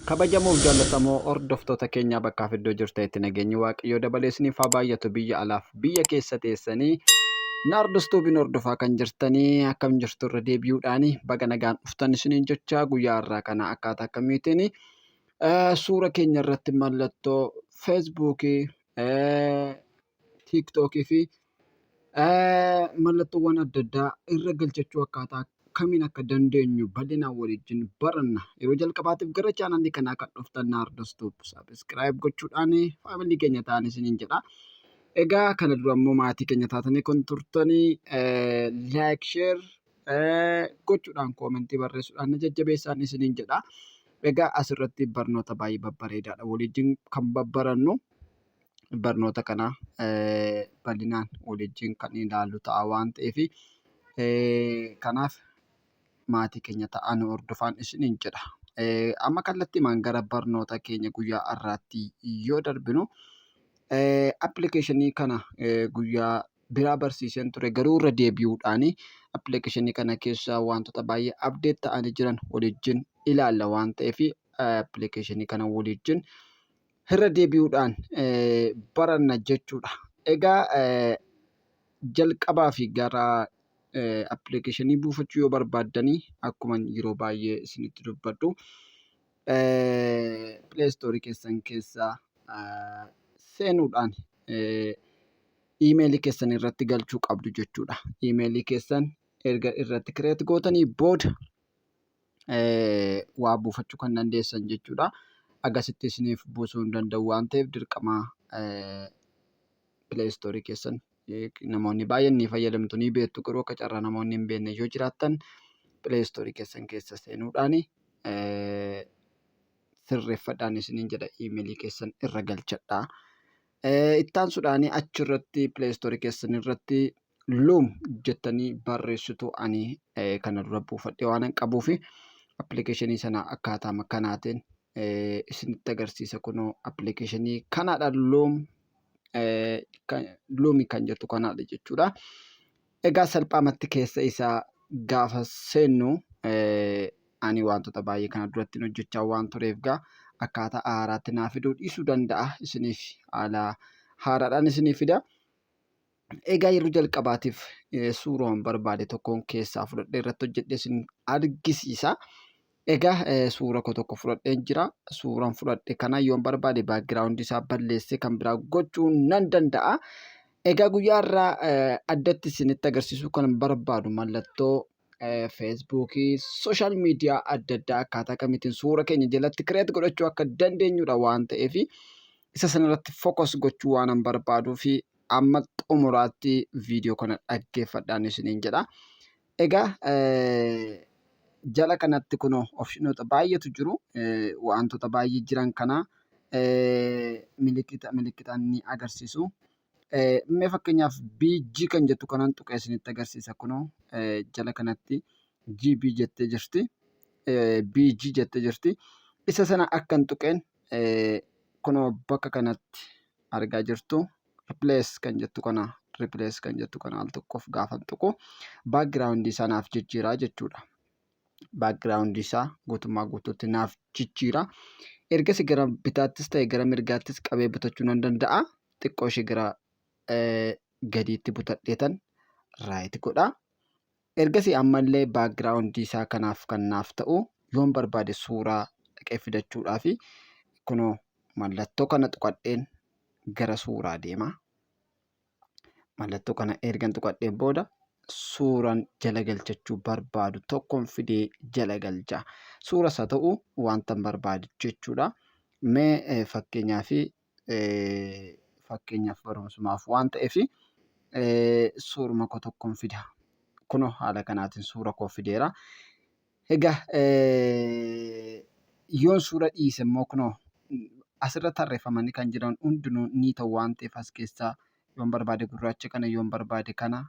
Kabajamoof jaallatamoo hordoftoota keenyaa bakkaa fi iddoo jirtanitti nageenyi waaqayyoo dabalee isiniif haa baay'atu biyya alaaf biyya keessa teessanii naardus tuubiin hordofaa kan jirtanii akkam jirtu irra deebi'uudhaan baga nagaan dhuftan isiniin jechaa guyyaa irraa kana akkaataa akkamiitiin suura keenya irratti mallattoo feesbuukii tiiktookii fi mallattoowwan adda addaa irra galchachuu akkaataa kamiin akka dandeenyu bal'inaan waliin baranna. Yeroo jalqabaatiif gara chaanaalii kanaa kan dhuftan na hordoftu sabiskiraayib gochuudhaan faamilii keenya ta'aa isiniin jedha. Egaa kana dura immoo maatii keenya taatanii kan turtanii laayik sheer gochuudhaan koomentii barreessuudhaan na jajjabeessaa isiniin jedha. Egaa asirratti barnoota baay'ee babbareedaadha waliin kan babbarannu. barnoota kana bal'inaan waliin kan ilaallu ta'a waan ta'eef kanaaf maatii keenya ta'aa nu hordofaa isiniin jedha. Amma kallattiimaan gara barnoota keenya guyyaa har'aatti yoo darbinu appilikeeshinii kana guyyaa biraa barsiiseen ture garuu irra deebi'uudhaan appilikeeshinii kana keessa wantoota baay'ee abdeet ta'anii jiran waliin ilaalla waan ta'eef appilikeeshinii kana waliin irra deebi'uudhaan baranna jechuudha. Egaa jalqabaa fi gara appilikeeshinii buufachuu yoo barbaaddanii akkuma yeroo baay'ee isinitti dubbadhu pileestoorii keessan keessa seenuudhaan iimeelii keessan irratti galchuu qabdu jechuudha. Iimeelii keessan erga irratti kireet gootanii booda waa buufachuu kan dandeessan jechuudha. Agasitti isiniif buusuu hin danda'u waan ta'eef dirqama pileestoorii keessan namoonni baay'een ni fayyadamtu ni beektu garuu akka carraa namoonni hin beekne yoo jiraattan pileestoorii keessan keessa seenuudhaan sirreeffadhaan isiniin jedha iimeelii keessan irra galchadha. Ittaansuudhaan achirratti pileestoorii keessan irratti Loom jettanii barreessitu ani kana dura buufadhee waanan qabuu fi appilikeeshinii sana akkaataama kanaatiin isinitti agarsiisa kunoo appilikeeshinii kanaadha loom loomi kan jettu kanaadha jechuudha. Egaa salphaamatti keessa isaa gaafa seennu ani wantoota baay'ee kana duratti hojjechaa waan tureef gaa akkaataa haaraatti naa fiduu dhiisuu danda'a isiniif haala haaraadhaan isiniif fida. Egaa yeroo jalqabaatiif suuraan barbaade tokkoon keessaa fudhadhee irratti hojjedhee isin argisiisa. Egaa suura koo tokko fudhadheen jira. Suuraan fudhadhe kana yoon barbaade baakgiraawundi isaa balleessee kan biraa gochuu nan danda'a. Egaa guyyaa irraa addatti isinitti agarsiisuu kan barbaadu mallattoo feesbuukii, sooshaal miidiyaa adda addaa akkaataa kamiitiin suura keenya jalatti kireet godhachuu akka dandeenyudha waan ta'eef isa sanarratti fokas gochuu waanan barbaaduufi amma xumuraatti viidiyoo kana dhaggeeffadhaan isiniin jedha. Egaa jala kanatti kunoo opshinoota baay'eetu jiru. Wantoota baay'ee jiran kana milikkita milikkitaan ni agarsiisu. Mee fakkeenyaaf BG kan jettu kanaan tuqee isinitti agarsiisa kunoo jala kanatti GB jettee jirti. BG jettee jirti. Isa sana akkan tuqeen kunoo bakka kanatti argaa jirtu replace kan jettu kana replace kan jettu kana al tokkoof gaafan tuqu background isaa naaf jijjiiraa jechuudha. Background isaa guutummaa guutuutti naaf jijjiira. Ergasi gara bitaattis ta'e gara mirgaattis qabee butachuu nan danda'a. Xiqqoo ishee gara gadiitti butadheetan raayit godha. Ergasii ammallee background isaa kanaaf kan naaf ta'u yoon barbaade suuraa dhaqee fidachuudhaafi kunoo mallattoo kana tuqadheen gara suuraa deema. Mallattoo kana ergan tuqadheen booda suuran jala galchachuu barbaadu tokkon fidee jala galcha. Suuras haa ta'u wantan barbaadu jechuudha. Mee fakkeenyaaf fakkeenyaaf barumsumaaf waan ta'eef suuruma koo tokkoon fida. Kunoo haala kanaatiin suura koo fideera. Egaa yoon suura dhiise immoo kunoo asirra tarreeffamanii kan jiran hundinuu ni ta'u waan ta'eef as keessaa yoon barbaade gurraacha kana yoon barbaade kana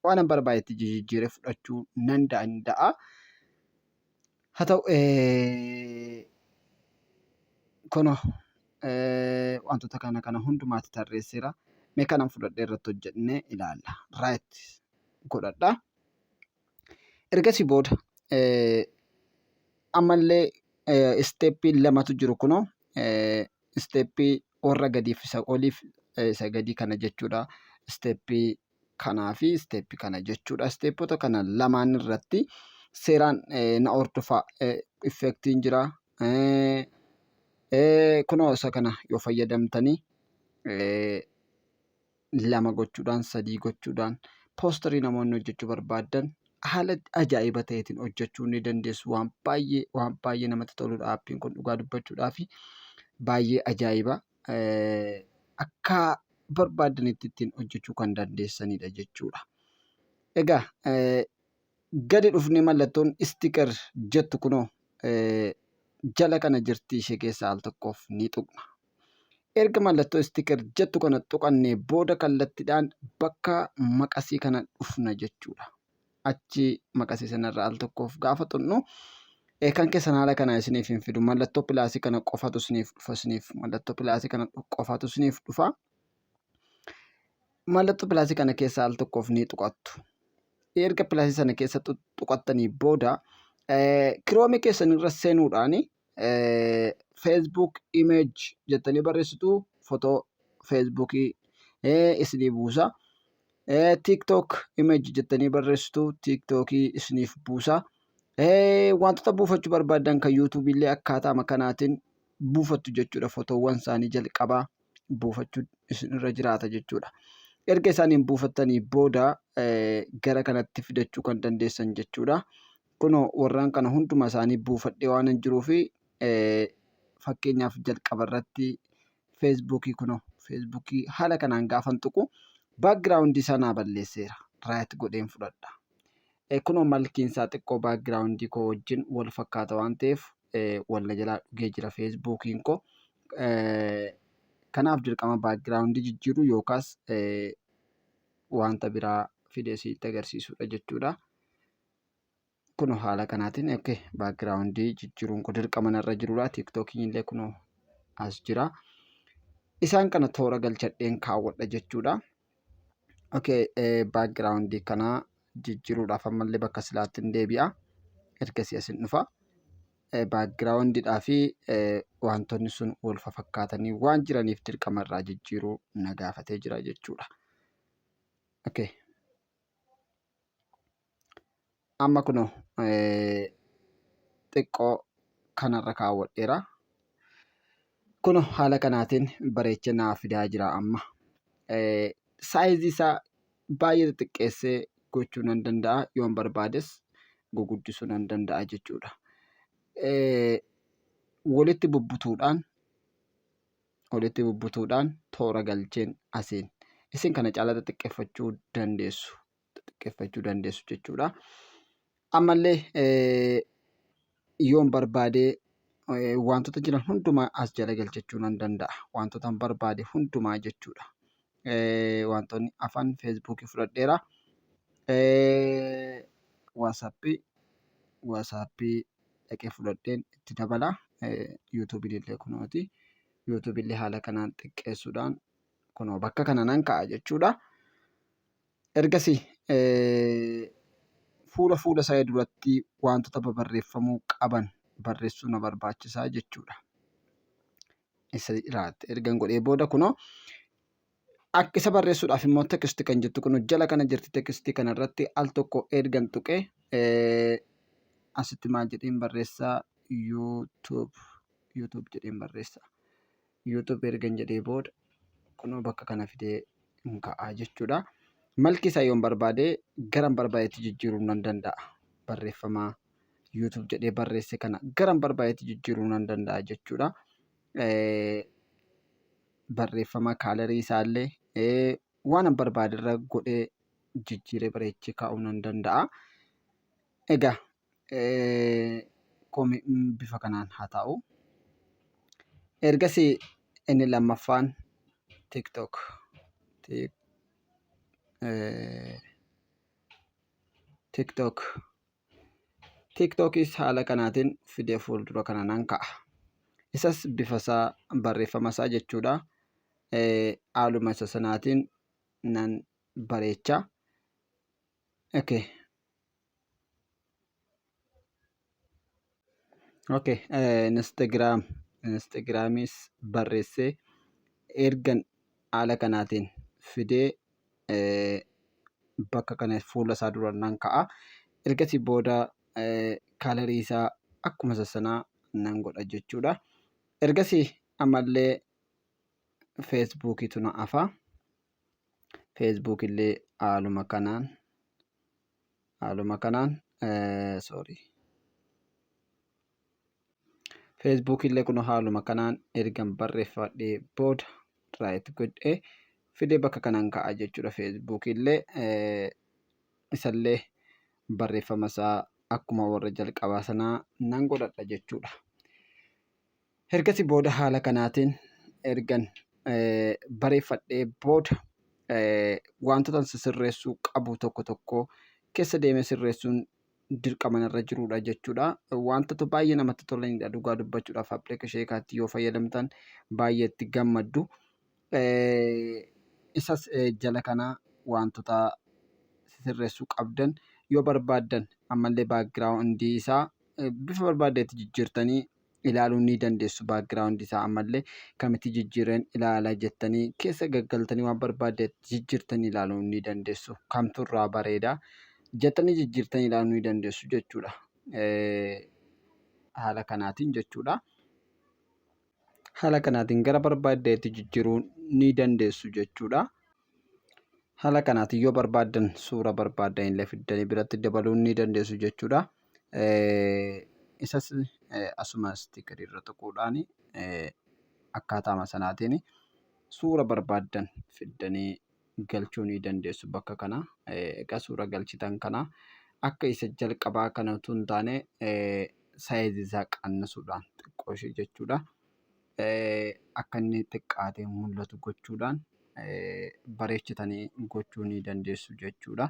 waan an barbaadetti jijjiiree fudhachuu nan danda'a. Haa ta'u kunoo wantoota kana kana hundumaatti tarreesseera. Mee kanan fudhadhee irratti hojjennee ilaalla. Right godhadha. Ergasii booda ammallee isteeppii lamatu jiru kunoo isteeppii warra gadiif isa oliif isa gadii kana jechuudha. Isteeppii kanaa fi isteeppi kana jechuudha. Isteeppota kana lamaan irratti seeraan na hordofa effektiin jira. Kunoo isa kana yoo fayyadamtanii lama gochuudhaan sadii gochuudhaan poostarii namoonni hojjechuu barbaadan haala ajaa'iba ta'eetiin hojjechuu ni dandeessu. Waan baay'ee waan baay'ee namatti toludha aappiin kun dhugaa dubbachuudhaaf baay'ee ajaa'iba. akka barbaaddanitti ittiin hojjechuu kan dandeessanidha jechuudha. Egaa gadi dhufnee mallattoon istiker jettu kunoo jala kana jirti ishee keessaa al tokkoof ni tuqna. Erga mallattoo istiker jettu kana tuqannee booda kallattiidhaan bakka maqasii kana dhufna jechuudha. achi maqasii sanarra al tokkoof gaafa xunnu kan keessan haala kanaa isiniif hin fidu mallattoo pilaasii kana qofatu isiniif dhufa isiniif mallattoo pilaasii kana qofatu isiniif dhufa mallattoo pilaasii kana keessa al tokkoof ni tuqattu erga pilaasii sana keessa tuqattanii booda kiroomii keessan irra seenuudhaan Facebook image jettanii barreessitu fotoo Facebook isinii buusa. TikTok image jettanii barreessitu TikTok isiniif buusa. Wantoota buufachuu barbaadan kan YouTube illee akkaataama kanaatiin buufattu jechuudha. Fotoowwan isaanii jalqabaa buufachuu isinirra jiraata jechuudha. Erga isaaniin buufattanii booda gara kanatti fidachuu kan dandeessan jechuudha. Kunoo, warraan kana hunduma isaanii buufadhee waanan jiruuf, fakkeenyaaf jalqaba irratti feesbuukii kunoo, feesbuukii haala kanaan gaafan tuqu background isaa naa balleesseera. Right godheen fudhadha. Eh, Kunoo malkiin isaa xiqqoo background koo wajjin wal fakkaata waan ta'eef eh, wal na jalaa dhugee jira feesbuukiin koo. Eh, Kanaaf dirqama background jijjiiruu yookaas eh, wanta biraa fidee sitti agarsiisudha jechuudha. kuno haala kanaatiin ok background jijjiruun ko dirqama narra jirudha tiktokiin illee kuno as jira isaan kana toora galchadheen kaawwadha jechuudha ok background kana jijjiruudhaaf ammallee bakka silaatti hin deebi'a ergasii as hin dhufa background dhaa fi wantoonni sun wal fakkaatanii waan jiraniif dirqama irraa jijjiiruu na gaafatee jira jechuudha ok amma kuno xiqqoo kanarra kaawwadheera kuno haala kanaatiin bareechee naa fidaa jira amma saayizii isaa baay'ee xixiqqeessee gochuu nan danda'a yoon barbaades guguddisuu nan danda'a jechuudha walitti bubbutuudhaan walitti bubbutuudhaan toora galcheen asiin isin kana caalaa xixiqqeffachuu dandeessu xiqqeeffachuu dandeessu jechuudha. Ammallee yoon barbaadee wantoota jiran hundumaa as jala galchachuu nan danda'a. Wantoota barbaade hundumaa jechuudha. Wantoonni afaan feesbuukii fudhadheera. Waasappii waasappii dhaqee fudhadheen itti dabala. Yuutuubiin illee kunooti. Yuutuubiin illee haala kanaan xiqqeessuudhaan kunoo bakka kana nan ka'a jechuudha. Ergasi fuula fuula isaa duratti waantota babarreeffamuu qaban barreessuu na barbaachisaa jechuudha. Isa irratti ergan godhee booda kunoo akka isa barreessuudhaaf immoo text kan jettu kun jala kana jirti text kana irratti al tokko ergan tuqee asitti maal jedheen barreessaa YouTube YouTube jedheen barreessaa. YouTube ergan jedhee booda kunoo bakka kana fidee hin ka'a jechuudha. Malki isaa yoon barbaade garan barbaadetti jijjiiruu nan danda'a. Barreeffama YouTube jedhee barreesse kana garan barbaadetti jijjiiruu nan danda'a jechuudha. Barreeffama kaalarii isaallee waan an barbaaderra godhee jijjiiree bareechee kaa'uu nan danda'a. Egaa bifa kanaan haa taa'u. Ergasii inni lammaffaan TikTok. TikTok. TikTokis haala kanaatiin fidee fuuldura kana nan kaa'a. Isas bifa isaa barreeffama isaa jechuudha. Haaluma isa sanaatiin nan bareecha. Okay. ok instagram instagraamis barreessee ergan haala kanaatiin fidee bakka kana fuula isaa dura nan ka'a ergasii booda kaalarii isaa akkuma isa sanaa nan godha jechuudha ergasii ammallee feesbuukiitu na hafa feesbuukillee haaluma kanaan haaluma kanaan sorry Facebook illee kun haaluma kanaan ergan barreeffadhee booda right godhee fidee bakka kanaan ka'a jechuudha Facebook illee isallee barreeffama isaa akkuma warra jalqabaa sanaa nan godhadha jechuudha. Ergasii booda haala kanaatiin ergan bareeffadhee booda wantoota sirreessuu qabu tokko tokko keessa deemee sirreessuun dirqama narra jirudha jechuudha. Wantoota baay'ee namatti tolanidha dhugaa dubbachuudhaaf appilikeeshinii sheekaatti yoo fayyadamtan baay'ee itti gammaddu. Isas jala kanaa wantoota sirreessuu qabdan yoo barbaaddan ammallee baakgiraawundii isaa bifa barbaaddeetti jijjiirtanii ilaaluu ni dandeessu background isaa ammallee kamitti jijjiireen ilaala jettanii keessa gaggaltanii waan barbaadde jijjiirtanii ilaaluu ni dandeessu kamtu irraa bareeda jettanii jijjiirtanii ilaaluu ni dandeessu jechuudha haala kanaatiin jechuudha. haala kanaatiin gara barbaaddeetti jijjiiruu ni dandeessu jechuudha. Haala kanaatiin yoo barbaaddan suura barbaaddan illee fiddanii biratti dabaluu ni dandeessu jechuudha. Isas asuma istiikarii irra tuquudhaan akkaataama sanaatiin suura barbaaddan fiddanii galchuu ni dandeessu bakka kana. Egaa suura galchitan kana akka isa jalqabaa kana utuu hin taane saayizii isaa qannasuudhaan xiqqoo ishee jechuudha. akka inni xiqqaatee mul'atu gochuudhaan bareechitanii gochuu ni dandeessu jechuudha.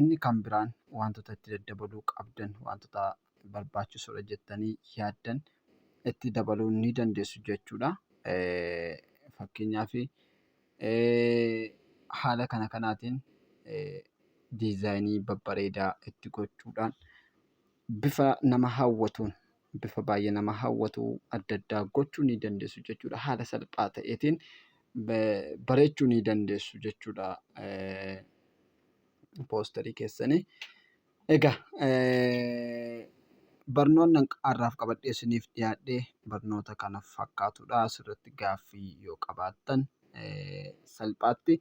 Inni kan biraan wantoota itti daddabaluu qabdan wantoota barbaachisoodha jettanii yaaddan itti dabaluu ni dandeessu jechuudha. Fakkeenyaaf haala kana kanaatiin diizaayinii babbareedaa itti gochuudhaan bifa nama hawwatuun bifa baay'ee nama hawwatu adda addaa gochuu ni dandeessu jechuudha. Haala salphaa ta'eetiin bareechuu ni dandeessu jechuudha poosterii keessanii. Egaa barnoonni har'aaf qabadhee isiniif dhiyaadhe barnoota kana fakkaatudha. Asirratti gaaffii yoo qabaattan salphaatti